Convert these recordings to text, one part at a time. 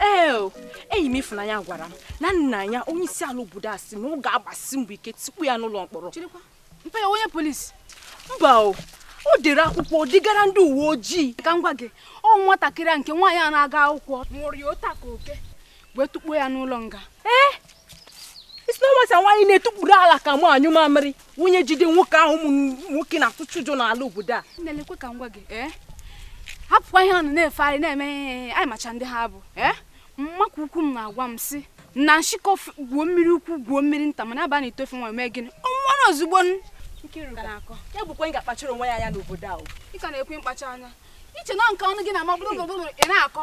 ee enyi m Ifunanya gwara m na nna ya onye isi ala obodo a sị na ọ ga-agbasi mbọ ike tọpụ ya n'ụlọ mkpọrọ mpa ya ọ onye polisi mba o o dere akwụkwọ degara ndị uwe ojii ka m gwa gị ọ nwatakịrị a nke nwaanyị a na-aga akwụkwọ nwụrụ ya ụta ka oke wee tukpuo ya n'ụlọ nga ee ị sị na nwata nwaanyị na-etukpuru ala ka mụ anyụ mamịrị nwunye jide nwoke ahụ ụmụ nwoke na-atụcha ụjọ n'ala obodo a na-elekwe ka m gwa gị ee hapụkwa ihe ọnụ na-efegharị na-eme ihe anyị macha ndị ha bụ ee mama ukwu m na-agwa m sị na nshịkọ gwuo mmiri ukwu gwuo mmiri nta mana ọ baa n'ite ofe nwa mee gịnị ọ nwụọrọ ozugbo ya bụ gwa nwa gị kpachara onwe ya anya n'obodo ahụ ị ka na-ekwu mkpacha anya ị che na nke ọnụ gị na-amabụrụ ị na-akọ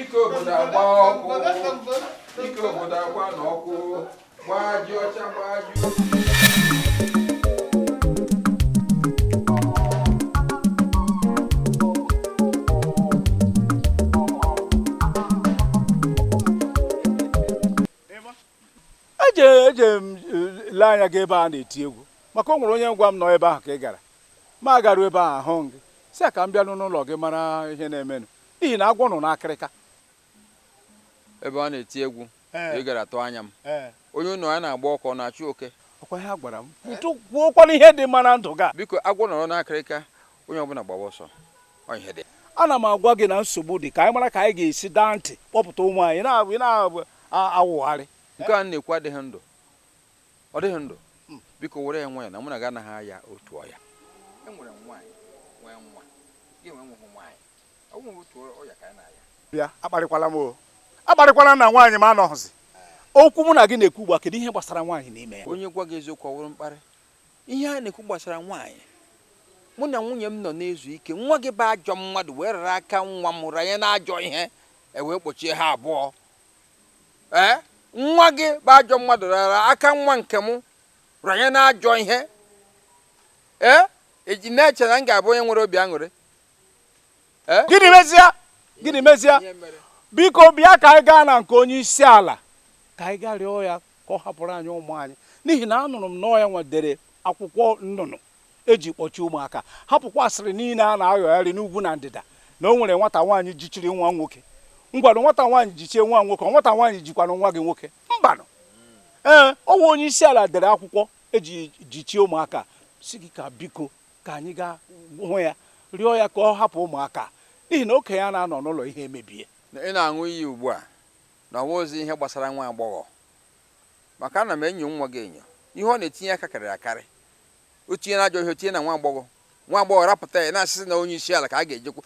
ike obodo agba ọkụ ike obodo agba na ọkụ gbaa ji ọcha gbaa ji eje m ele anya gị ebe a na-eti egwu maka o nwere onye gwara m na ọ ebe ahụ ka ị gara mụ agaru ebe ahụ ahụghị gị sị a ka m bịanụ n'ụlọ gị mara ihe na-emenụ n'ihi na agwọ nọ n'akịrịka ebe a na-eti egwu Ee. ị gara tụọ anya m ee onye ụlọ ya na-agba ọkụ ọ na-achụ oke ọkwa ihe a gwara m kwutu kwuokwana ihe dị mma na ndụ gị a. biko agwọ nọrọ n'akịrịka onye ọbụla gbawa ọsọ ọ ihe dị ana m agwa gị na nsogbu dị ka anyị mara ka anyị ga-esi daa ntị kpọpụta ụmụ anyị na- ị na-awụgharị nke a na-ekwu adịghị ndụ ọ dịghị ndụ biko were ya nwayọ na mụ na gị anaghị aya otu ọya enwere m nwaanyị nwee nwa gị nwee nwehụ nwaanyị bịa akparịkwala m o akparịkwala na nwaanyị m anọghịzi okwu mụ na gị na-ekwu ugbu a kedu ihe gbasara nwaanyị n'ime ya onye gwa gị eziokwu ọ wụrụ mkparị ihe a na-ekwu gbasara nwaanyị mụ na nwunye m nọ na-ezu ike nwa gị bụ ajọ mmadụ wee rara aka nwa m ranye n'ajọ ihe e wee kpochie ha abụọ ee nwa gị bụ ajọ mmadụ rara aka nwa nke m ranye n'ajọ ihe ee ị ji na-eche na m ga-abụ onye nwere obi aṅụrị Eh? gịnị mezie gịnị mezie biko bịa ka anyị gaa na nke onye isi ala ka anyị gaa rịọ ya ka ọ hapụrụ anyị ụmụ anyị n'ihi na anụrụ m na ọ ya nwa dere akwụkwọ nnụnụ e ji kpọchie ụmụaka hapụkwa asịrị niile a na-ayọgharị n'ugwu na ndịda na o nwere nwata nwaanyị jichiri nwa nwoke ngwanụ nwata nwaanyị jichie nwa nwoke ọ nwata nwaanyị jikwanụ nwa gị nwoke mbanụ ee ọ wụ onye isi ala dere akwụkwọ e ji jichie ụmụaka sị gị ka biko ka anyị gaa hụ ya rịọ ya ka ọ hapụ ụmụaka n'ihi na okenye a na-anọ n'ụlọ ihe emebie ị na-aṅụ iyi ugbu a na ọ wụghịzi ihe gbasara nwa agbọghọ maka ana m enyo nwa gị enyo ihe ọ na-etinye aka karịrị akarị o tinye n'ajọ ihe o tinye na nwa agbọghọ nwa agbọghọ rapụta ya na-asị sị na onye isi ala ka a ga-ejekwu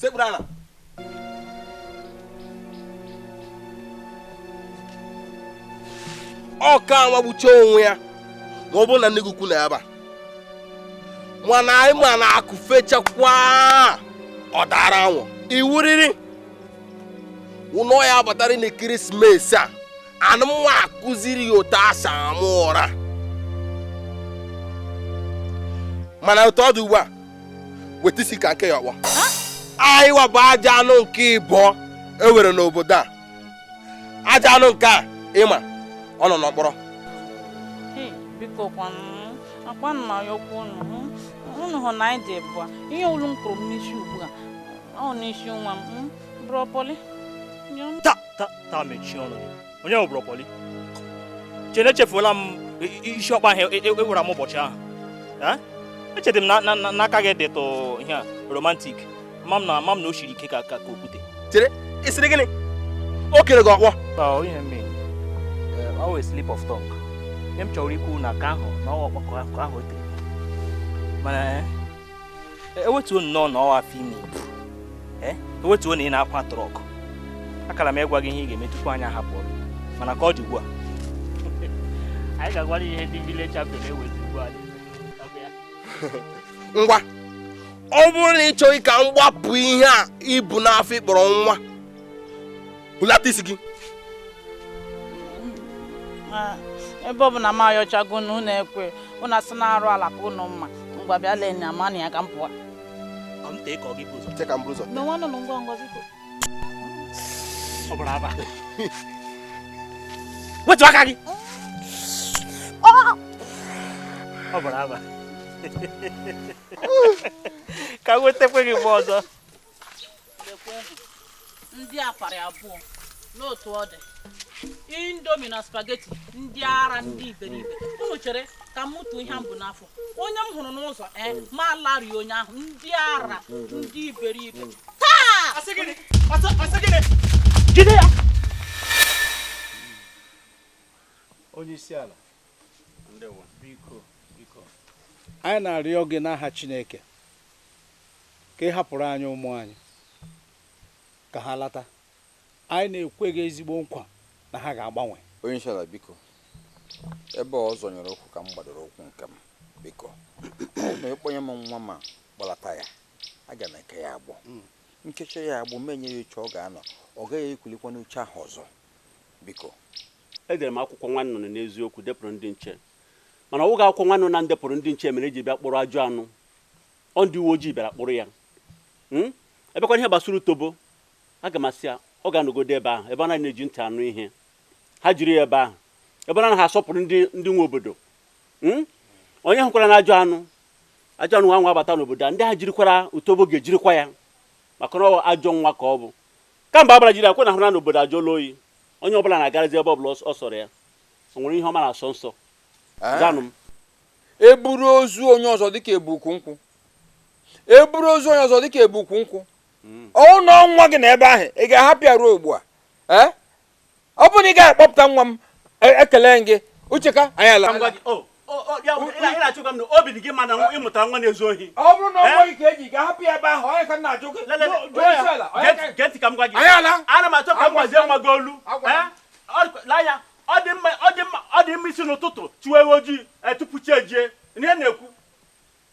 sekpuru ala ọ ka anwagbucha onwe ya ma ọ bụrụ na nne gị ukwu nọ ebe a mana anyị ma na akụ fechakwa ọ daara awọ iwuriri ụlọ ya batara n'ekeresimesi a mụ nwa akụziri ya otu e si ama ụra mana otu ọ dị ugbu a weta isi ka m kee ya ọkpọ anyịwa bụ ajọ anụ nke ịbụọ e nwere n'obodo a ajọ anụ nke a ịma ọ nọ n'ọkpọrọ biko kwanụ agwana ya okwu unu unu hụ na anyị dị bụa ihe unu kụrụ m n'isi ugbu a ọ n'isi nwa m bro pọlị taa mechie ọnụ onye bụ bro pọlị chee na echefuola m isi ọkpọ ahụ i wura m ụbọchị ahụ echedị m na aka gị dịtụ ihe a romantik ma m na ama m na o siri ike ka ka okwute chere ị sịrị gịnị o kere gị ọkpọ ọ wụ slip of tongue ihe m chọrọ ikwu na aka ahụ na ọkpọkọ ahụ o tere mana e wetuo nnọọ na ọ wụ afọ ime i bu e wetuo na ị na-akwa trọk akara m ịgwa gị ihe ị ga-eme tupu anyị ahapụ ọrụ mana ka ọ dị ugbu a anyị ga-agwara ihe ndị village chapter na-ewezi ugbu a ngwa ọ bụrụ na ị chọghị ka m gbapụ ihe a i bu n'afọ ị kpọrọ nwa hulata isi gị ebe ọ bụ na m ayọchago na unu ekwe unu asị na arụ ala ka unu mma ngwa bịa lee nya ma na ya ka m pụọ wetu aka gị ọ bara aba ka wetakwe gị mgbe ọzọ ndị apari abụọ n'otu ọ dị indomie na spaghetti ndị ara ndị iberibe unu chere ka m mụtụ ihe m bu n'afọ onye m hụrụ n'ụzọ e eh, m alarịa onye ahụ ndị ara ndị iberibe taa jide ya onye isi ala anyị na-arịọ gị n'aha Chineke ka ị hapụrụ anyị ụmụ anyị ka ha lata anyị na-ekwe gị ezigbo nkwa na ha ga-agbanwe onye isi ala biko ebe ọ zọnyere ụkwụ ka m gbadoro ụkwụ nke m biko ma ị kpọnye m nwa m m akpọlata ya aga m eke ya agbụ hmm. m kechaa ya agbụ m enye ya oche ọ ga-anọ ọ gaghị ekulikwa n'oche ahụ ọzọ biko Edere m akwụkwọ nwa nnụnụ n'eziokwu depụrụ ndị nche mana ọ wụghị akwụkwọ nwa nnụnụ na m depụrụ ndị nche mere eji bịa kpụrụ ajọ anụ ọ ndị uwe ojii bịara kpụrụ ya hmm? ebekwana ihe gbasara utobo aga m asị ya ọ ga-anọgodo ebe ahụ ebe a naghị na-eji ntị anụ ihe ha jiri ya ebe ahụ ebe a naghị asọpụrụ ndị ndị nwe obodo hmm? onye hụkwara na ajọ anụ ajọ anụ nwa nwa abata n'obodo a ndị ha jirikwara utobo ga-ejirikwa ya maka na ọ ajọ nwa ka ọ bụ kamgbe a bịara jiri ya kwa unu ahụla na obodo ajụọla oyi Onye ọbụla na-agarazi ebe ọbụla ọ sọrọ ya. O nwere ihe ọ ma na-asọ nsọ? Eh? Zanụ m. E buru ozu onye ọzọ dịka e bu ukwu nkwụ. E buru ozu onye ọzọ dịka e bu ukwu nkwụ. Hmm. Ọ wụ na nwa gị nọ ebe ahụ ị ga-ahapụ ya ruo ugbu a. Eh? Ọ bụ na ị ga-akpọpụta nwa m e, ekele m gị. Uche ka anyị laa. Oh, na-achụga m na obi dị gị mma na ị mụtara nwa na-ezu ohi ọ bụrụ na ọ nwa nke gị ị ga-ahapụ ya ebe ahụ onye ka m na-ajụ gị gee ntị ka m gwa gị ana m achọ ka m gwazie nwa gị olu n'anya ọ dị mma isi n'ụtụtụ chụwa ewu ojii tupu chi ejie ihe m na-ekwu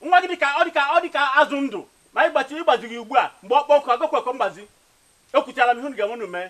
nwa gị dịka ọ dịka ọ dịka azụ ndụ ma ị gbachi ị gbazighị ugbu a mgbe ọ kpọ nkụ agakwa ekwe mgbazi ekwuchara m ihe unu ga-eme unu mee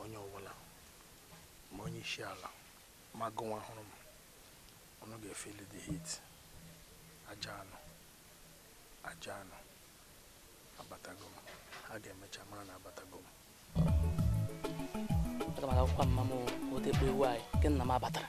onye ọbụla ma onye isi ala ma gụnwa hụrụ m unu ga-efeel the heat ajọ anụ ajọ anụ abatago m ha ga-emecha mara na abatago m aga m agakwa mma m otekpe ewu anyị nke nna m abatara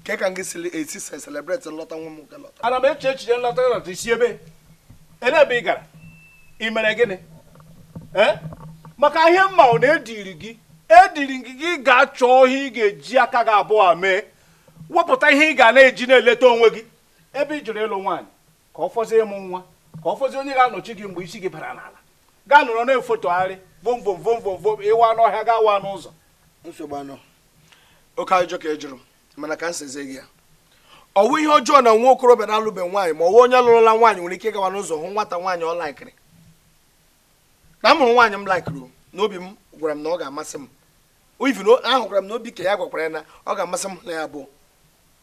nke ka gị siri esi se celebrate nlọta nwa m nwoke lọta ana m eche echiche nlọta gị lọta i si ebe ole ebe ị gara ị mere gịnị ee maka ihe m ma ọ na-ediri gị ediri gị gị ga-achọ ihe ị ga-eji aka gị abụọ mee wepụta ihe ị ga na-eji na-eleta onwe gị ebe ị jụrụ ịlụ nwaanyị ka ọ fọzie ịmụ nwa ka ọ fọzie onye ga-anọchi gị mgbe isi gị bara n'ala gaa nọrọ na-efotogharị vom vom vom vom vom ị waa n'ọhịa gaa waa n'ụzọ nsogbu anọ oke ajụjụ ka ị jụrụ mana ka m sazie gị ya ọ wụ ihe ọjọọ na nwa okorobịa na-alụbe nwaanyị ma ọ wụ onye lụrụla nwaanyị nwere ike ịgawa n'ụzọ hụ nwata nwaanyị ọ laikiri na m hụrụ nwaanyị m laikiri na obi m gwara m na ọ ga-amasị m even ahụkwara m na obi nke ya gwakwara ya na ọ ga-amasị mụ na ya abụọ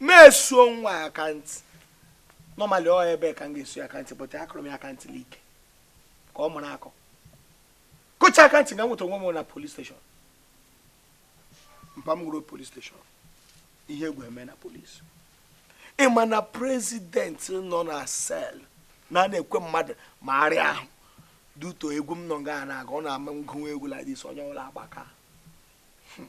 m esuo nwa ya aka ntị normally ọ ebe ka m ga-esu ya aka ntị but akụrụ m ya aka ntị like ka ọ mụrụ akọ kụcha aka ntị ga nweta onwe m na police station mpa m gwụrụ police station ihe egwu eme na police ị ma na president nọ na cell na na-ekwe mmadụ ma arịa ahụ due to egwu m nọ nga na-aga ọ na-ama m gụwa egwu like this onye ọwụla agbaka hmm.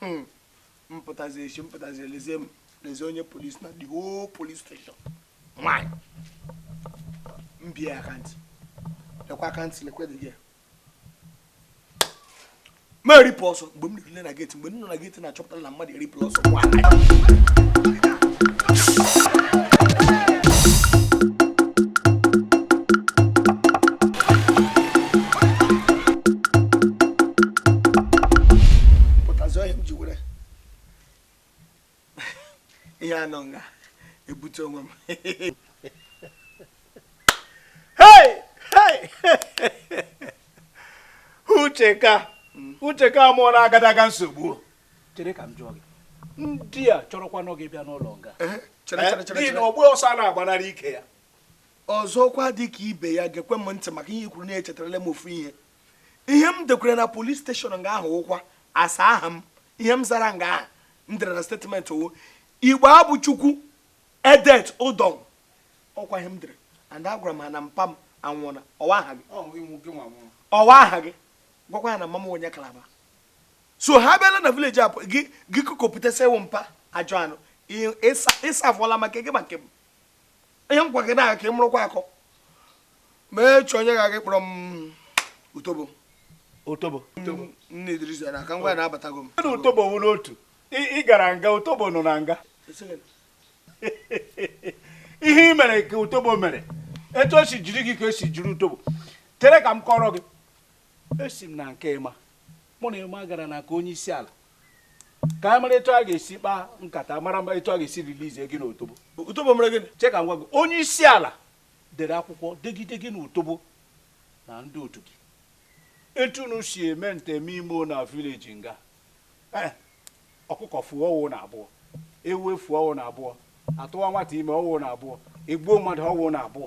Hmm. m pụtazi echi m pụtazi elezie m lezie onye police na the whole police station nwanyị m bie aka ntị lekwa aka ntị lekwa dị gị m eripụ ọsọ mgbe m ruru na geti mgbe m nọ na geti na a chọpụtara na mmadụ eripụla ọsọ nwaanyị pụtazi ọ ya m ji were ihe a nọ nga ebute onwe m ucheka ucheka mụ nọ n'agadaga nsogbu chere ka m jụọ gị ndị a chọrọkwanụ gị bịa n'ụlọ nga eh, eh, n'ihi na ọgba ọsọ na-agbanarị ike ya ọzọkwa dị ka ibe ya gekwe m ntị maka ihe i kwuru now echetarala m ofu ihe ihe m dekwere na police station nga ahụ awụkwa asa aha m ihe m zara nga ahụ m dere na statement ọwụ Igbo abụ Chukwu Edet Udo ọkwa ihe m dere and agwara m ha na mpa m anwụọna ọwụ aha gị ọwụ aha gị gwakwa ya na mama m wụ onye Kalaba so ha bịala na vileji a gị gị kụkọpụta sị ị wụ mpa ajọ anụ ịsa afụọla maka gị maka m ihe m gwa gị na ka ị mụrụkwa akọ ma echi onye ga-aga kpọrọ m utobo utobo nne idris na aka ngwa na-abatago mụ na utobo wụrụ otu ị gara nga utobo nọ na nga ihe ị mere ka utobo mere etu e si jiri gị ka e si jiri utobo chere ka m kọọrọ gị esi m na nke Emma mụ na Emma gara na nke onye isi ala ka anyị mara etu a ga-esi kpaa nkata mara mma etu a ga-esi release gị na utobo utobo mere gịnị che ka m gwa gị onye isi ala dere akwụkwọ degide gị na utobo na ndị otu gị etu unu si eme nteme imo na vileji nga eh, ọkụkọ fuo ọwụ unu abụọ ewu efuo ọwụ unu abụọ a tụwa nwata ime ọwụ ụnụ abụọ e gbuo mmadụ ọwụ ụnụ abụọ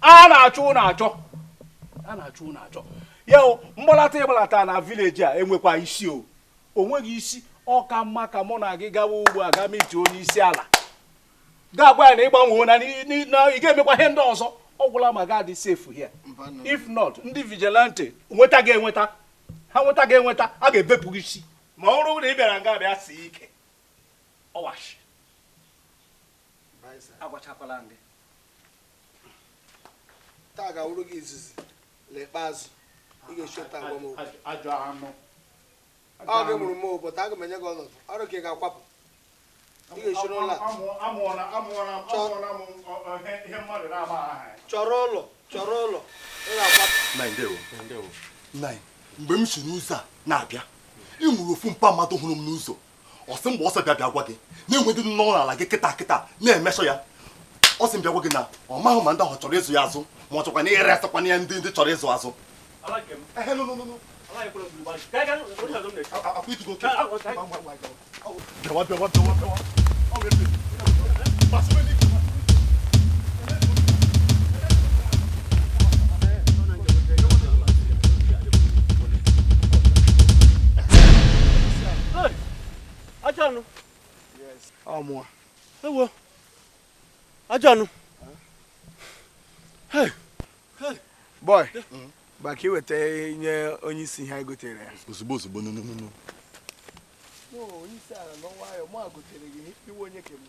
a na-achọ ụnụ achọ a na-achọ ụnụ achọ ya mgbalata ị gbalata na vileji a enwekwa isi o o nweghị isi ọ ka mma ka mụ na gị gawa ugbu a ga meet onye isi ala ga gwa ya na ị gbanweena ị ga-emekwa ihe ndị ọzọ ọ gwụla ma ga-adị safe here if not ndị vigilante nweta gị enweta ha nweta gị enweta a ga-ebepụ gị isi ma ọ bụrụ na ị bịara nga bịa sie ike ọwashi agwachakwala gị taa ga-awụrụ gị izizi na ikpeazụ ị ga-eshi otu a agwa m okwu ajọ anụ ọ gị mụrụ m but aga m enye gị ọnọdụ ọrụ ka ị ga-akwapụ ị ga-eshiri ụlọ a chọrọ ụlọ chọrọ ụlọ ị ga-akwapụ mgbe m si n'ụzọ a na-abịa ị nwere ofu mpa mmadụ hụrụ m n'ụzọ ọ sị m gbaa ọsọ bịa bịa gwa gị na e nwe ndị nọ n'ala gị kịta kịta na-emesọ ya ọ sị m bịa gwa gị na ọ maghị ma ndị ahụ chọrọ ịzụ ya azụ ma ọ chọkwanụ iresịkwanụ ya ndị chọrọ ịzụ azụ ehen ọmụwa ewo ajọ anụ boy baka i weta nye onye isi ihe e gotere ya ozugbo ozugbo no no no onye isi ala n'ọnwa ya mụ agotere gị iwe onye kemgbe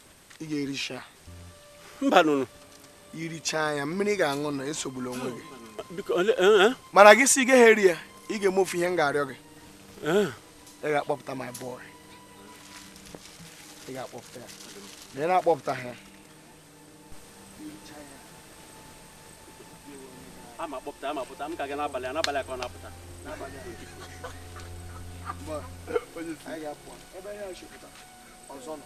ị ga-ericha mba nụnụ irichaa ya mmiri ị ga-aṅụ na esogbula onwe gị eh, eh. mana gị sị ị gaghị eri ya ị ga-eme ofu ihe m ga-arịọ gị eh. ị ga-akpọpụta my boy ị ga-akpọpụta ya na ị na-akpọpụta ha ama kpọpụta ama pụta m ka gị n'abalị a n'abalị ka ọ na-apụta ọzọ nọ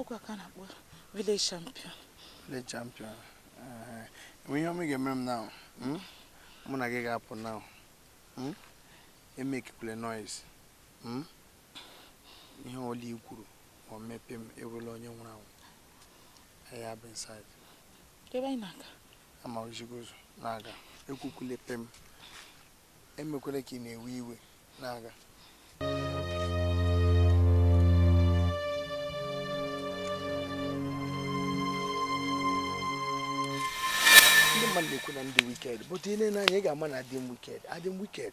ọkwa ka na-akpọ village champion village champion enwe ihe ọma ị ga-emere m now hmm? mụ na gị ga-apụ now hmm? emekikwule noise hmm? ihe ọla i kwuru ma ọ mee pem ị wụrụla onye nwụrụ anwụ ya bụ inside ebe anyị na-aga ama ezi gị ụzọ na-aga ekwukwule pem emekwele ka ị na-ewe iwe na-aga ndị mmadụ na-ekwu na m dị wicked but ile m n'anya ị ga-ama na adị m wicked adị m wicked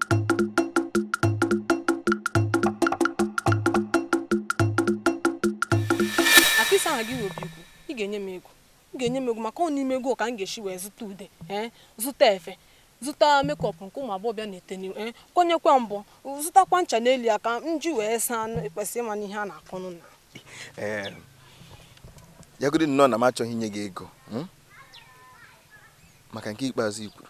akịsa aha gị nwobi ikwu ị ga-enye m ego ị ga-enye m ego maka ọ n'ime ego ka m ga-eshi wee zụta ude ee zụta efe zụta makeup nke ụmụ agbọghọbịa na-ete n'ihu ee konyekwa mbọ zụtakwa ncha n'elu ya ka m ji wee saa anụ ịkwesị ịma n'ihe a na-akọ ọnụ now ee yagodi nnọọ na m achọghị inye gị ego hmm? maka nke ikpeazụ i kwuru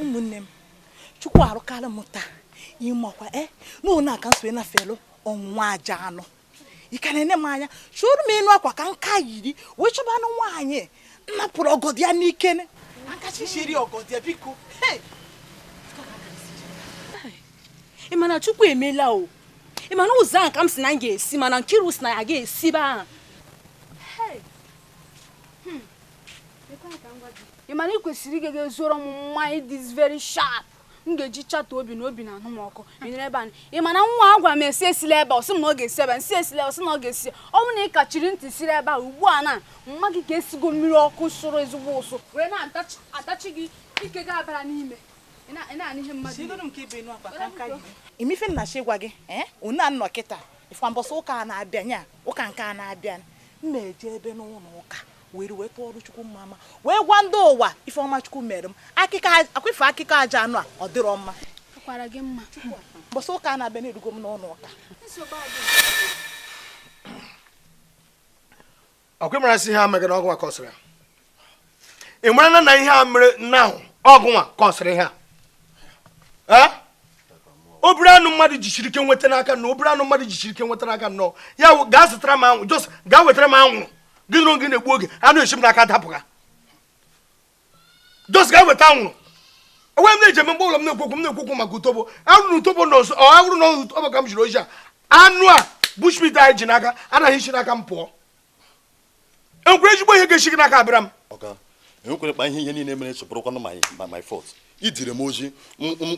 ụmụnne m chukwu arụkarị m taa ịmakwa e eh, n'ụlọ aka nso ị nafelụ ọnwụnwa ajọ anụ ị ka na-ene m anya chụrụ m ịnụ akwa ka nka yiri wee chọba anụ nwaanyị napụrụ ọgọdị ya n'ike nkachiri ọgọdị ya biko ị ma na chukwu emela o ị ma na ụzọ ahụ ka m sị na m ga-esi mana nkiru sị na ya ga-esi ebe ahụ ị ma na ị kwesịrị ịga ga zụọrọ m mmanya dị very sharp m ga-eji chata obi na obi na-anụ m ọkụ enyere ebe anyị ị ma na nwa a gwara m esi esila ebe ọ sị m na ọ ga-esi ebe m sị esila ọ sị na ọ ga-esi ọ bụrụ na ị kachiri ntị siri ebe a ugbu a na mma gị ka esigo mmiri ọkụ sụrụ ezigbo ụsụ wee na-atachi gị ike gị abara n'ime ị ma ife m na-achọ ịgwa gị ee unu nọ kịta ị fụ mbọsị ụka na-abịa nya ụka nke a na-abịa m na-eje ebe n'ụlọ ụka wee wee tụọrụ chukwu mma mma wee gwa ndị ụwa ife ọma chukwu mere m akụkọ akwefe akụkọ ajọ anụ a ọ dịrọ mma kwara gị mma mbọsị ụka a na-abịa na-erugo m n'ụlọ ụka ọ kwa ị mara sị ihe a megara ọ gụnwa kọsịrị ya ị mara na na ihe a mere nna ahụ ọ gụnwa kọsịrị ihe a obere anụ mmadụ jichiri ike nweta n'aka na obere anụ mmadụ jichiri ike nweta n'aka nnọọ ya gaa zụtara m anwụ just gaa wetara m anwụrụ gị na oge na-egbu oge anụ esi m n'aka dapụga just gaa weta anwụrụ onwe m na-eji eme mgbe ọbụla m na-ekwu okwu m na-ekwu okwu maka utobo ọ wụrụ na utobo na ọzọ ọ bụrụ na utobo ka m ziri ozi a anụ a bushmeat anyị ji n'aka anaghị esi n'aka m pụọ enwere ezigbo ihe ga-esi gị n'aka abịara m enwekwere kpa ihe ihe niile merecha bụrụkwanụ my my fault i ziri m ozi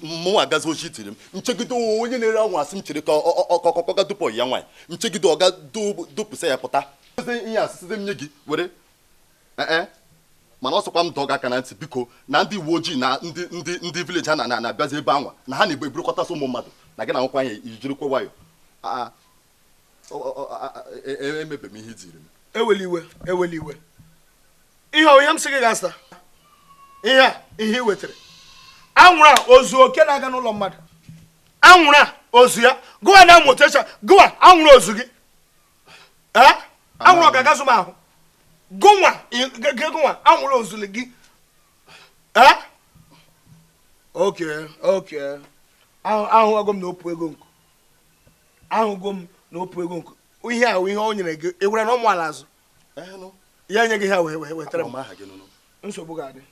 mụnwa agazi ozi i ziri m m chegide onye na-ere anwụ a sị m chere ka ọkọkọga dupụ ya nwaanyị m chegide ọ gaa dupụsịa ya pụta ihe a sịzi m nye gị were e, e. mana ọ sịkwa m dọọ gị aka na ntị biko na ndị uwe ojii na ndị ndị ndị village ha na-abịazi ebe anwa na ha na-eburukọtasị ụmụ mmadụ na gị na nwekwa anya i jirikwa nwayọ emebe m ihe i ziri m ewela iwe ewela iwe ihe ọ ihe m sị gị ga-asa ihe a ihe ị wetara anwụrụ a o zu oke na-aga n'ụlọ mmadụ anwụrụ a o zu ya gụwa na motecha gụwa anwụrụ o zu gị anwụrụ ọ ga-aga zu m ahụ gụnwa gụnwa anwụrụ o zu gị okay okay ahụgo m na ọ bụ ego nkụ ahụgo m na o pu ego nke ihe ahụ ihe o nyere gị i were na ụmụ ala azụ ya nye gị ha wee wee wetara m nsogbu ga-adị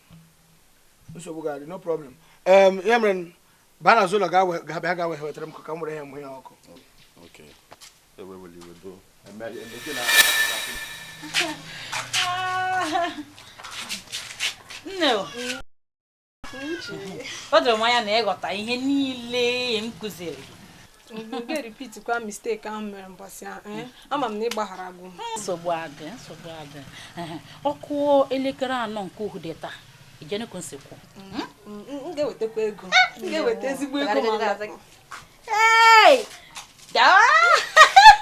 nsogbu ga-adị no problem ya mere baa na ụlọ ga-abịa ga wee wetara m ka m were ya mgbe ya ọkụ nne o doro m anya na ị ghọta ihe niile m kụziri mgbe ga repeatkwa mistake ahụ mere mbọsị ahụ eh? ama m na ị gbaghara gị nsogbu adị nsogbu adị o kụọ elekere anọ nke uhude taa ijenekwu nsikwu hmm? mm, mm, m ga-ewetakwa ego ah, m ga-eweta ezigbo ego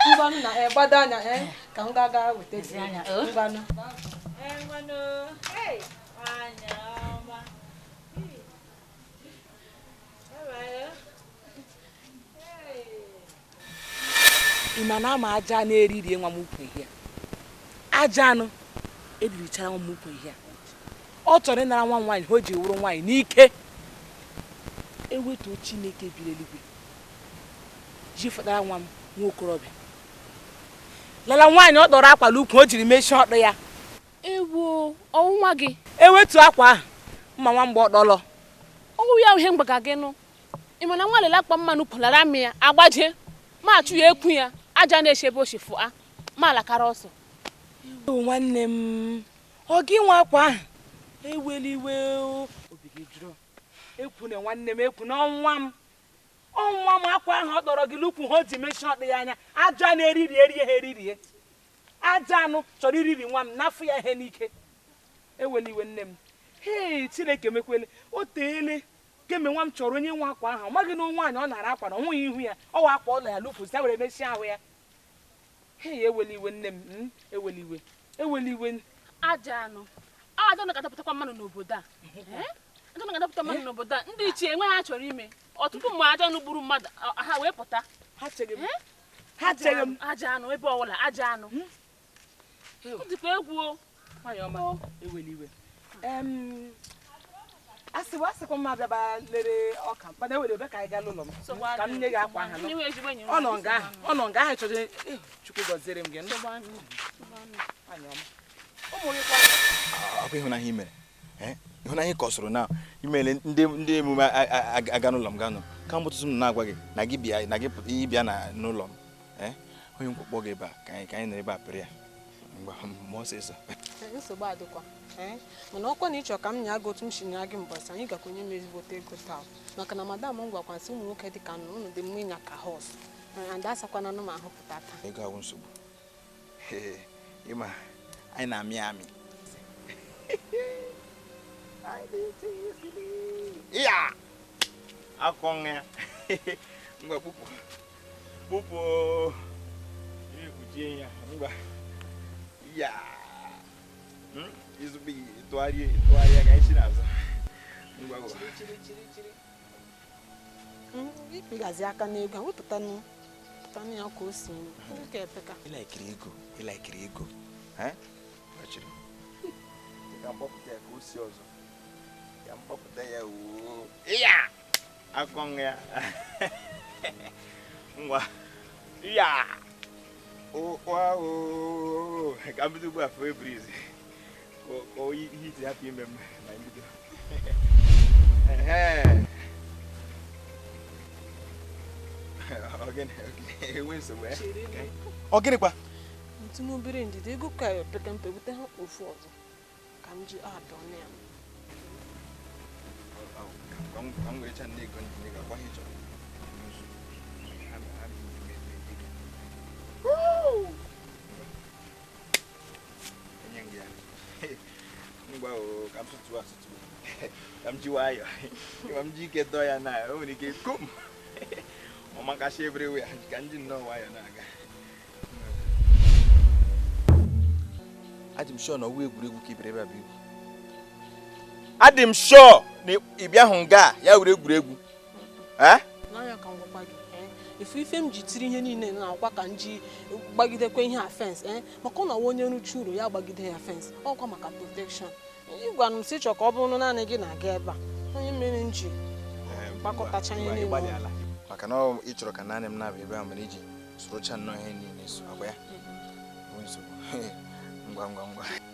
ngwanụ na eh, gbado anya eh, ka m ga-aga weta anya oh. ngwanụ mana ama ajọ anụ eriri nwa m ukwu ihe ajọ anụ eririchara nwa m ukwu ihe ọ chọrọ ịnara nwa nwaanyị ihe o ji wụrụ nwaanyị n'ike ewetuo chineke bi l'eluigwe ji fọdara nwa m nwa okorobịa lala nwaanyị ọ dọrọ akwa l'ukwu o jiri mechie ọdụ ya Ewo, ọ wụ nwa gị. Ewetu akwa ahụ, mma nwa m gba ọtọ lọ. Ọ wụ ya ihe m gwaga gị nụ. Ị ma na nwa lele akpa mmanụ pụlara amị ya agbaje ma achụ ya ekwu ya ajọ anụ eshi ebe o shi fụa ma alakara ọsọ. Ewu nwanne m, ọ gị nwe akwa ahụ? Ewela iwe obi gị jụrụ. Ekwu na nwanne m ekwu na ọ nwa m. Ọ nwa m akwa ahụ ọ dọrọ gị l'ukwu ihe o ji mechie ọdụ ya ama ajọ anụ eririe rie ha eririe. ajọ anụ chọrọ iriri nwa m nafụ ya ihe n'ike ewela iwe nne m hei chineke mekwele o teele kemgbe nwa m chọrọ onye nwe akwa ahụ ọ maghị na nwaanyị ọ nara akwa na ọ hụghị ihu ya ọ wa akwa ọ na ya lụpụzi ya were mechie ahụ ya hei ewela iwe nne m hmm, ewela iwe ewela iwe ajọ anụ ajọ anụ ga-adapụtakwa mmadụ n'obodo a eh? ajọ anụ ga-adapụta mmadụ eh? n'obodo a ndị ichie enweghị ihe ha chọrọ ime ọtụtụ mgbe ajọ anụ gburu mmadụ ha wee pụta ha chere m eh? ha chere m ajọ anụ ebe ọ wụla ajọ anụ hmm? ọ dịkwa egwu o nwaanyị ọma ewela iwe asị bụ asịkwa m abịaba lere ọka mkpana ewere ebe ka anyị gaa n'ụlọ m ka m nye gị akwa ahụ ọ nọ nga ahụ ọ nọ nga ahụ chọrọ eh, chukwu gọziere m gị ọ bụ ịhụnanya i mere eh, ịhụnanya ka ọ soro na imele ndị emume aga n'ụlọ m ganụ kamgbe ụtụtụ m na-agwa gị na gị bịa na gị ịbịa n'ụlọ m eh, onye nkwụkpọ gị ebe a ka anyị ka anyị nọ ebe a pịrị ya mgbe m ọsịsọ nsogbu adịkwa eh, mana ọkwa na ị chọ ka m nya gị otu m si nya gị mbọsị anyị gakwa enye m ezigbote ego taa maka na madam m gwakwa m sị ụmụ nwoke dị ka ụnụ dị mma ịnya ka horse and asakwananụ m ahụ pụta taa ego awụ nsogbu ị ma anyị na-amị amị ya akọ nwa ya ngwa kpụpụ kpụpụ ekpuchie ya ngwa ya hmm? izugbe tụgharịa tụgharịa ka anyị si n'azụ ngwa ngwa ị gazi aka n'ego a wepụtanụ pụtanụ ya ka o si nwoke epeka ịlaikiri ego ịlaikiri ego achịrị ka m kpọpụta ya ka o si ọzọ ka m kpọpụta ya wuo ya akọ nwa ya ngwa ya ụkwa o ka m bido ugbu a fee breeze ọ gịnịkwa nwetụnụ obere ndidi ego ka peta mpe bute half ọzọ ka m ji adọ na ya Woo! ka m ji nwayọ ma m ji ike dọọ ya na o nwere ike kom ọmakasị everywhere ka m ji nnọọ nwayọ na-aga adị m sure na ọ wụ egwuregwu ka ị bịara ebe a bụ igwu adị m sure na ị bịahụ nga ya wụrụ egwuregwu eh? n'anya ka m gwakwa gị eh? ị fụ ife m ji tiri ihe niile na ọ wụkwa ka m ji gbagidekwa ihe a fence eh? maka ọ na-awụ onye rụchaa ụlọ ya gbagide ya fence ọ wụkwa maka protection ị gwanụ m sị ị chọ ka ọ bụrụ naanị gị na-aga ebe a ọ ya mere m ji gbakọtacha ihe niile maka na ị chọrọ ka naanị m na-abịa ebe a mere iji sorocha nnọọ ihe niile so agba ya ngwa ngwa ngwa